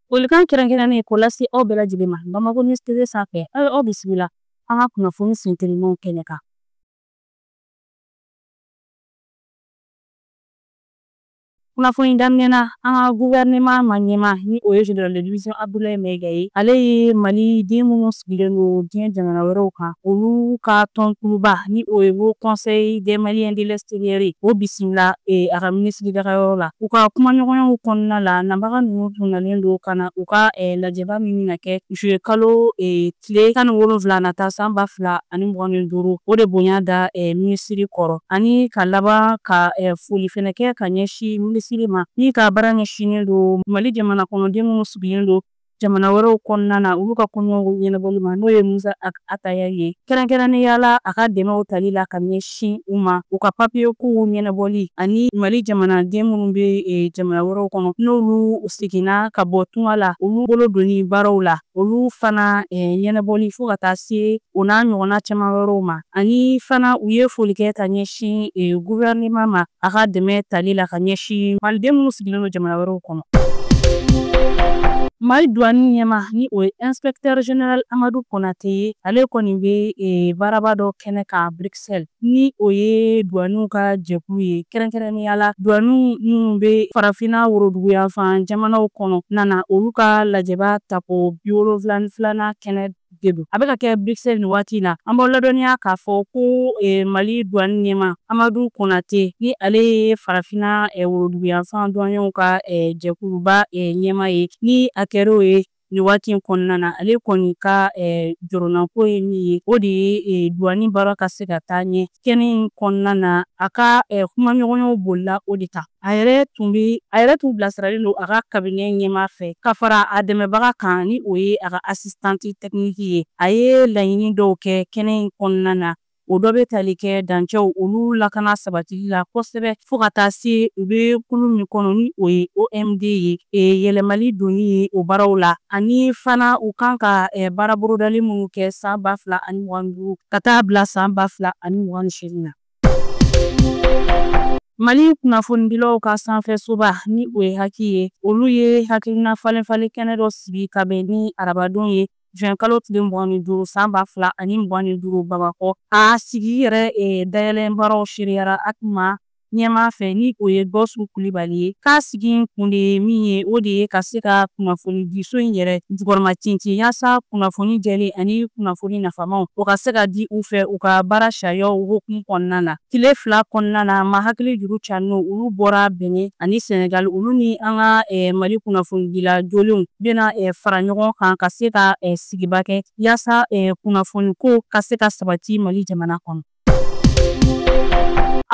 Folikan kɛrɛnkɛrɛnnen k'o lase aw bɛɛ lajɛlen ma Bamako News TV sanfɛ aw ye aw bisimila an ka kunnafoni sentelimanw kɛnɛ kan. Kunnafoni daminɛ na an ka guvɛrɛneman ma ɲɛma ni o ye General de division Abdoulaye Maiga ye ale ye Mali den minnu sigilen don diɲɛ jamana wɛrɛw kan olu ka tɔnkuluba ni o ye haut conseil des maliens de l'extérieur ye o bisimila e, a ka minisiri dagayɔrɔ la u ka kumaɲɔgɔnyaw kɔnɔna la nabaga ninnu tun nalen don ka na u ka e, lajɛba min bɛna kɛ juillet kalo e, tile tan ni wolonwula nata san ba fila ani mugan ni duuru o de bonya da minisiri kɔrɔ ani ka laban ka foli fɛnɛ kɛ ka ɲɛsin minisiri ma min ka baara ɲɛsinnen don mali jamana kɔnɔden minnu sigilen don jamana wɛrɛw kɔnɔna na olu ka koɲɛw ɲɛnabɔli ma n'o ye musa attaher ye kɛrɛnkɛrɛnnenya la a ka dɛmɛw tali la ka ɲɛsin u ma u ka papiye kow ɲɛnabɔli ani mali jamanaden minnu bɛ e, jamana wɛrɛw kɔnɔ n'olu seginna ka bɔ tunga la olu bolo donni baaraw la olu fana e, ɲɛnabɔli fo ka taa se o n'a ɲɔgɔnna caman wɛrɛw ma ani fana u ye foli kɛ ka ɲɛsin e, guvɛrɛnema ma a ka dɛmɛ tali la ka ɲɛsin maliden minnu sigilen don jamana wɛrɛw kɔnɔ mali duwani ɲɛma ni o ye inspecteur general amadu konate ye ale kɔni bɛ e, baaraba dɔ kɛnɛ kan bruxelles ni o ye duwaniw ka jɛkulu ye kɛrɛnkɛrɛnnenya la duwaniw minnu bɛ farafina woroduguyanfan jamanaw kɔnɔna na olu ka lajɛba tako biwolonwula ni filanan kɛnɛ de don a bɛ ka kɛ bruxelles nin waati na an b'aw ladɔnniya k'a fɔ ko eh, mali duwani ɲɛma amadu konate ni ale ye farafina eh, woroduguyanfan duwaniyew ka eh, jɛkuluba ɲɛma ye ni a kɛr'o ye nin waati in kɔnɔna na ale kɔni ka jɔrɔnako ye min ye o de ye duwani baara ka se ka taa ɲɛ kɛnɛ in kɔnɔna na a ka kumaɲɔgɔnyaw bolila o de kan a yɛrɛ tun bɛ a yɛrɛ tun bilasiralen don a ka kabinɛ ɲɛmaa fɛ ka fara a dɛmɛbaga kan ni o ye a ka asistanti tɛkiniki ye a ye laɲini dɔw kɛ kɛnɛ in kɔnɔna na o dɔ bɛ tali kɛ dancɛw olu lakana sabatili la kosɛbɛ fo ka taa se u bɛ kulu min kɔnɔ ni o ye omd ye e, yɛlɛmali donni ye o baaraw la ani fana u kan ka e, baara bolodali minnu kɛ san ba fila ani mugan duuru ka taa bila san ba fila ani mugan ni seegin na Mali kunnafonidilaw ka sanfɛsoba ni o ye hac ye olu ye hakilina falenfalen kɛnɛ dɔ sigi ka bɛn ni arabadon ye juin kalo tile mugan ni duuru san ba fila ani mugan ni duuru bamakɔ a sigi yɛrɛ dayɛlɛ baaraw seereyara hac ma ɲɛma fɛ ni o ye gawusu kulibali ye Sigi in kun de ye min ye, o de ye ka se ka kunnafonidiso in yɛrɛ jukɔrɔma tintin yaasa kunnafoni jɛlen ani kunnafoni nafamaw, o ka se ka di u fɛ u ka baara sariyaw hokumu kɔnɔna na. Tile fila kɔnɔna na, maa hakili juru carinenw, olu bɔra Benin ani Senegal, olu ni an ka Mali kunnafonidila jolenw bɛna fara ɲɔgɔn kan ka se ka sigiba kɛ yaasa kunnafoniko ka se ka sabati Mali jamana kɔnɔ.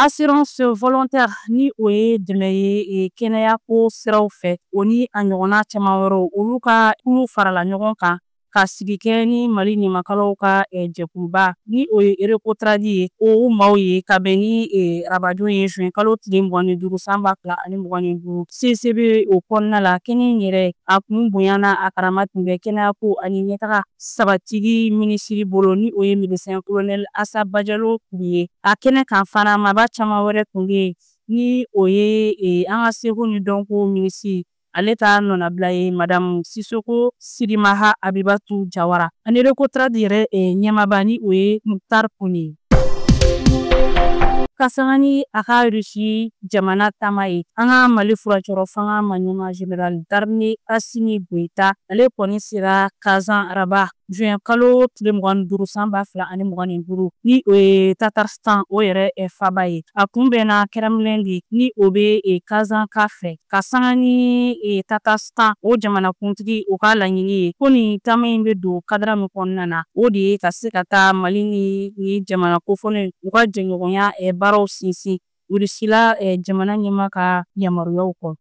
assurance volontaire ni o ye dɛmɛ ye e, kɛnɛya ko siraw fɛ o ni a ɲɔgɔnna caman wɛrɛw olu ka kulu farala ɲɔgɔn kan ka sigi kɛ ni mali ɲamakalaw ka e, jɛkuluba ni o ye Recotrade ye o maaw ye ka bɛn ni e, arabadon ye juin kalo tile mugan ni duuru san ba fila ani mugan ni duuru ccb o kɔnɔna la kɛnɛ in yɛrɛ a kun bonya n'a karama tun bɛ kɛnɛyako ani ɲɛtaga sabatili minisiri bolo ni o ye medecin colonel Asa Bajalo Ture ye, a kɛnɛ kan fana maba caman wɛrɛ tun bɛ yen ni o ye e, an ka seko ni dɔnko minisiri ale ta nɔnabila ye madamu Sisoko Sirimaha Abibatu Jawara ani Recotrade yɛrɛ e, ɲɛmaaba ni o ye Muktar Kone ye. Ka sanga ni a ka Russie jamana taama ye, an ka Mali furancɛrɔ fanga maɲɛma General d'armee Assimi Goita, ale kɔni sera Kazan araba, juin kalo tile mugan ni duuru san ba fila ani mugan ni duuru, ni o ye Tatarstan o yɛrɛ faaba ye. A kunbɛnna Kremlin de, ni o bɛ Kazan ka fɛ. ka sanga ni e, Tatarstan o jamanakuntigi o ka laɲini ye ko nin taama in bɛ don kadara min kɔnɔna na o de ye ka se ka taa Mali ni ni jamana kofɔlen u ka jɛɲɔgɔnya e, baaraw sinsin Rusila e, jamana ɲɛma ka yamaruyaw kɔnɔ.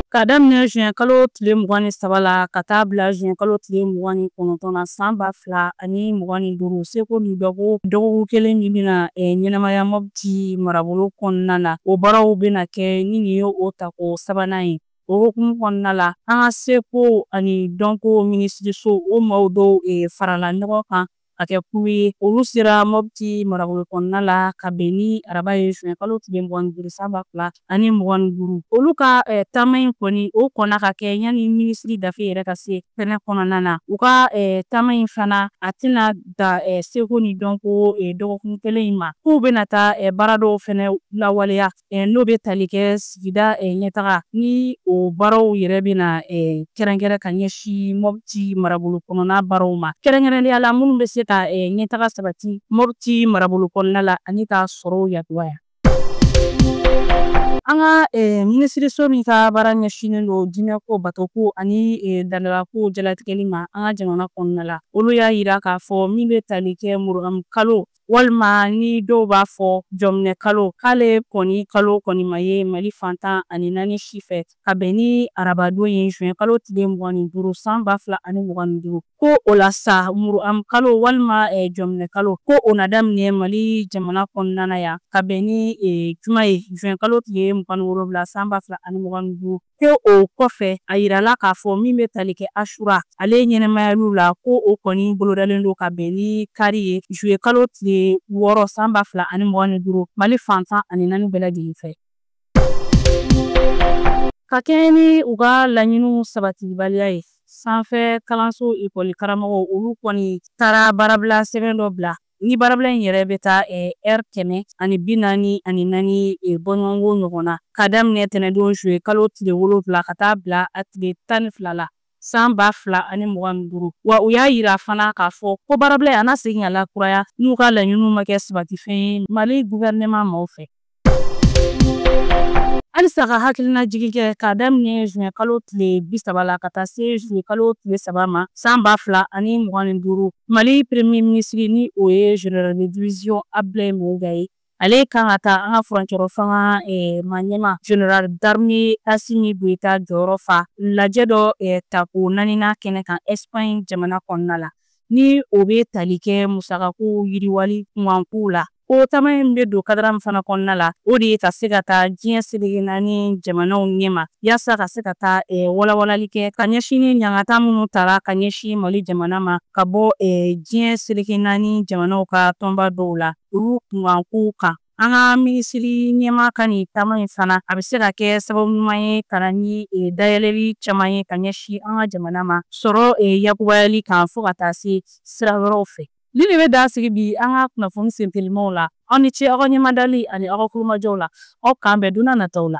Ka daminɛ juin kalo tile mugan ni saba la ka taa bila juin kalo tile mugan ni kɔnɔntɔn na san ba fila ani mugan ni duuru seko ni dɔnko dɔgɔkun kelen min bɛna ɲɛnamaya mɔbiti marabolo kɔnɔna na o baaraw bɛna kɛ ni nin ye o tako sabanan ye o hokumu kɔnɔna la an ka seko ani dɔnko minisiriso o maaw dɔw farala ɲɔgɔn kan ka kɛ kulu ye olu sera mɔbiti marabolo kɔnɔna la ka bɛn ni araba ye juin kalo tile mugan ni duuru san ba fila ani mugan ni duuru olu ka taama in kɔni o kɔnna ka kɛ yanni minisiri dafe yɛrɛ ka se kɛnɛ kɔnɔna na u ka taama in fana a tɛna dan seko ni dɔnko dɔgɔkun kelen in ma k'u bɛna taa baara dɔw fɛnɛ lawaleya n'o bɛ tali kɛ sigida ɲɛtaga ni o baaraw yɛrɛ bɛna kɛrɛnkɛrɛn ka ɲɛsin mɔbiti marabolo kɔnɔna baaraw ma kɛrɛnkɛrɛnnenya la minnu bɛ se ka ɲɛtaga sabati mɔbiti marabolo kɔnɔna la ani ka sɔrɔw yakubaya An ka minisiriso min ka baara ɲɛsinnen don diinɛko batoko ani laadalako jalatigɛli ma an ka jamana kɔnɔna la olu y'a yira k'a fɔ min bɛ tali kɛ muruam kalo walima ni dɔw b'a fɔ jɔminɛ kalo k'ale kɔni kalo kɔni ma ye mali fan tan ani naani si fɛ ka bɛn ni arabadon ye juin kalo tile mugan ni duuru san ba fila ani mugan ni duuru ko o la sa muruam kalo walima eh, jɔminɛ kalo ko o na daminɛ mali jamana kɔnɔna na yan ka bɛn ni eh, juma ye juin kalo tile mugan ni wolonwula san ba fila ani mugan ni duuru ko o kɔfɛ a yirala k'a fɔ min bɛ tali kɛ ashura ale ɲɛnamayaliw la ko o kɔni bolodalen don ka bɛn ni kari ye juillet kalo tile wɔɔrɔ san ba fila ani mugan ni duuru mali fan tan ani naani bɛɛ lajɛlen fɛ Ka kɛɲɛ ni u ka laɲiniw sabatibaliya ye, sanfɛ kalanso ekɔli karamɔgɔw olu kɔni taara baarabila sɛbɛn dɔ bila ni baarabila in yɛrɛ bɛ taa ɛri kɛmɛ ani bi naani ani naani bɔɲɔgɔnko ɲɔgɔn na, ka daminɛ tɛnɛndon juillet kalo tile wolonwula ka taa bila a tile tan ni fila la. san ba fila ani mugan ni duuru wa u y'a yira fana k'a fɔ ko baarabila in a na segin ka lakuraya n'u ka laɲiniw ma kɛ sabatifɛn ye mali guvɛrɛnɛman maaw fɛ halisa ka hakilinajigin kɛ k'a daminɛ juin kalo tile bi saba la ka taa se juillet kalo tile saba ma san ba fila ani mugan ni duuru mali premier minisiri ni o ye général de division abdulayi maiga ye ale kan ka taa an ka furancɛrɔ fanga maaɲɛmaa général d'armée asimi goyita jɔyɔrɔ fa lajɛ dɔ tako naaninan kɛnɛ kan espagne jamana kɔnɔna la ni o bɛ tali kɛ musakako yiriwali kunkankow la ko taama in bɛ don kadara min fana kɔnɔna la o de ye ka se ka taa diɲɛ seleke naani jamanaw ɲɛma yaasa ka se ka taa walawalali kɛ ka ɲɛsin ni ɲangata minnu tara ka ɲɛsin mali jamana ma ka bɔ diɲɛ seleke naani jamanaw ka tɔnba dɔw la olu kunkankow kan an ka minisiri ɲɛmaa ka nin taama in fana a bɛ se ka kɛ sababu ɲuman ye ka na ni e, dayɛlɛli caman ye ka ɲɛsin an ka jamana ma sɔrɔ e, yakubayali kan fo ka taa se sira wɛrɛw fɛ nin de bɛ dan sigi bi an ka kunnafoni sentelimaw la aw ni ce aw ka ɲɛmadali ani aw ka kulomajɔw la aw k'an bɛn don na nataw la